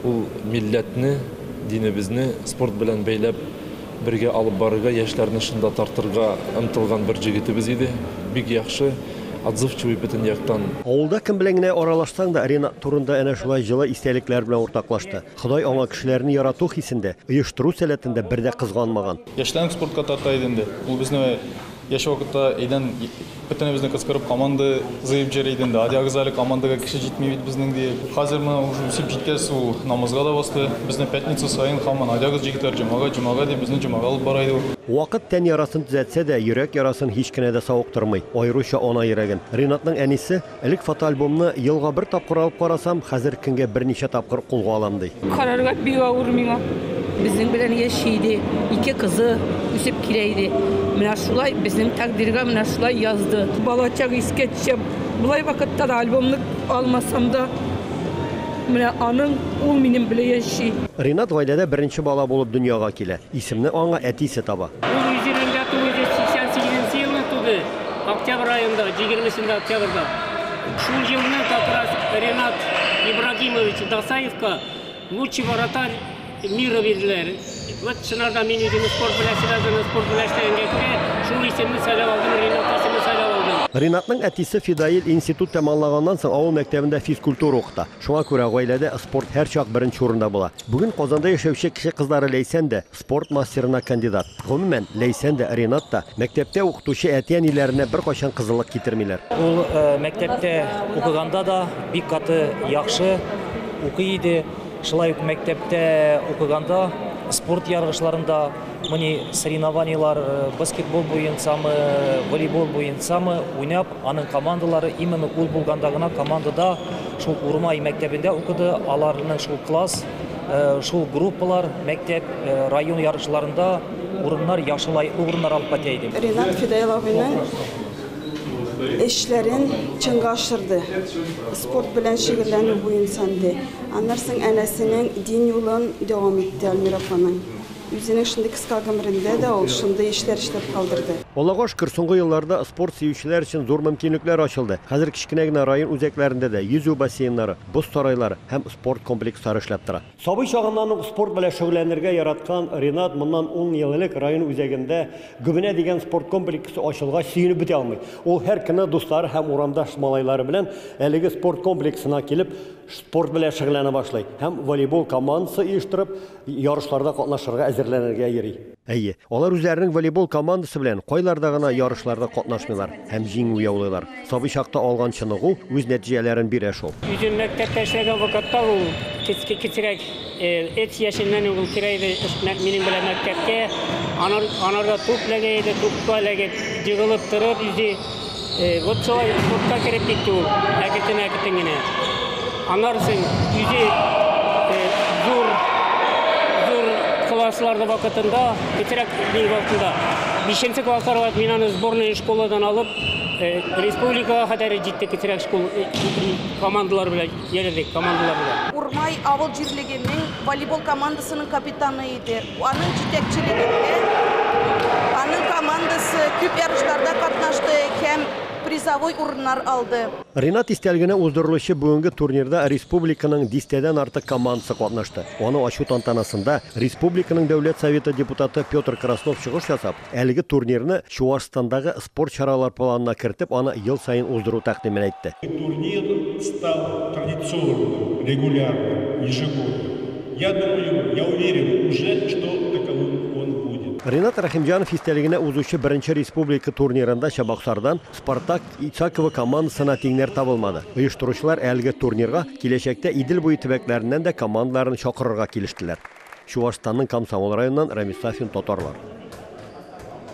Ул милләтне, динебезне спорт белән бәйләп бергә алып барырга, яшьләрне шунда тартырга омтылган бер җегетебез иде. Бик яхшы, отзывчивый бөтен яктан. Авылда кем белән генә аралашсаң да, Ренат турында әнә шулай җылы истәлекләр белән уртаклашты. Ходай аңа кешеләрне ярату хисендә, оештыру сәләтендә бер дә кызганмаган. Яшьләрен спортка тарта иде инде. Ул безне яшь вакытта әйдән бөтенебезне кыскырып команда зыеп җөри иде инде. Адиагыз әле командага кеше җитми бит безнең ди. Хәзер менә уже үсеп җиткәс ул намазга да басты. Безне пятница саен һаман адиагыз җигетләр җомага, җомага дип безне җомага алып бара иде ул. Вакыт тән ярасын төзәтсә дә, йөрәк ярасын һич кенә дә савыктырмый, аеруча ана йөрәген. Ринатның әнисе, Элек фотоальбомны елга бер тапкыр алып карасам, хәзер көнгә берничә тапкыр кулга алам, ди. Карарга бик авыр миңа. Безнең белән яши иде, ике кызы үсеп килә иде. Менә шулай безнең тәкъдиргә менә шулай язды. Балачак искә төшә. Болай вакытта да альбомны алмасам да, менә аның, ул минем белән яши. Ринат гаиләдә беренче бала булып дөньяга килә. Исемне аңа әтисе таба. Ул йөз елында тулы дип, 88 нче елны туды, октябрь аенда, җигермесендә октябрьда. Шул елны как раз Ренат Ибрагимович Дасаевка Лучший вратарь мира бирделәр. Вот чынарда мин үземне спорт белән связаны, спорт белән эшләгәнгә күрә, шул исемне сайлап алдым, Ренат исемен сайлап алдым. Ренатның әтисе Фидаил институт тәманлаганнан соң авыл мәктәбендә физкультура укыта. Шуңа күрә гаиләдә спорт һәрчак беренче урында була. Бүген Казанда яшәүче кеше кызлары Ләйсән дә, спорт мастерына кандидат. Гомумән, Ләйсән дә, Ринат та, мәктәптә укытучы әти-әниләренә беркайчан кызыллык китермиләр. Ул мәктәптә укыганда да бик каты яхшы укый иде. Шулай ук мәктәптә укыганда спорт ярышларында, Мони соревнованиелар баскетбол буенчамы, волейбол буенчамы уйнап, аның командалары именно ул булганда гына командада шул Урмай мәктәбендә укыды, аларның шул класс, шул группалар мәктәп, район ярышларында урыннар яхшы лаеклы урыннар алып кайтә иде. Ренат Фидаил абыйның эшләрен чынга ашырды, спорт белән шөгыльләнү буенча ди. Аннары соң әнәсенең дин юлын дәвам итте Альмир апаның. Үзенең шундый кыска гомерендә дә ул шундый эшләр эшләп калдырды. Алагаш кыр соңгы елларда спорт сөючеләр өчен зур мөмкинлекләр ачылды. Хәзер кечкенә генә район үзәкләрендә дә йөзү бассейннары, боз сарайлары һәм спорт комплекслары эшләп тора. Сабый чагыннан ук спорт белән шөгыльләнергә яраткан Ринат моннан ун ел элек район үзәгендә Гөбенә дигән спорт комплексы ачылгач сөенеп бетә алмый. Ул һәр көнне дуслары һәм урамдаш малайлары белән әлеге спорт комплексына килеп, спорт белән шөгыльләнә башлый һәм волейбол командасы оештырып, Ярышларда катнашырга, әзерләнергә йөри. Әйе, алар үзләренең волейбол командасы белән кайларда гына ярышларда катнашмыйлар һәм җиңү яулыйлар. Сабый чакта алган чыныгу үз нәтиҗәләрен бирә шул. Үзем мәктәптә эшләгән вакытта ул кечке кечерәк эт яшеннән үк ул керә иде минем белән мәктәпкә. Анар анарда туп ләгә иде, тупка ләгеп, егылып торып иде. Вот шулай спортка кереп китте ул, әкетен-әкетен генә. Аннары син үзе зур зур классларда вакытында, кечерәк дин вакытында, бишенче класслар вакыт мин аны сборная школадан алып, республикага хәтәр җитте кечерәк школ командалар белән йөрдек, командалар белән. Урмай авыл җирлегенең волейбол командасының капитаны иде. Аның җитәкчелегендә аның командасы күп ярышларда катнашты һәм призовой урыннар алды. Ринат истәлегенә уздырылучы бүгенге турнирда республиканың дистәдән артык командасы катнашты. Аны ачу тантанасында республиканың Дәүләт Советы депутаты Петр Краснов чыгыш ясап, Әлеге турнирны Чуашстандагы спорт чаралар планына кертеп, аны ел саен уздыру тәкъдимен әйтте. Турнир стал традиционным, регулярным, ежегодным. Я думаю, я уверен уже, что таковым он будет. Ринат Рәхимҗанов истәлегенә узучы беренче республика турнирында Чабаксардан Спартак Исаково командасына тиңнәр табылмады. Оештыручылар әлеге турнирга киләчәктә Идел буе төбәкләреннән дә командаларны чакырырга килештеләр. Чувашстанның Комсомол районыннан Рамис Сафин татарлар.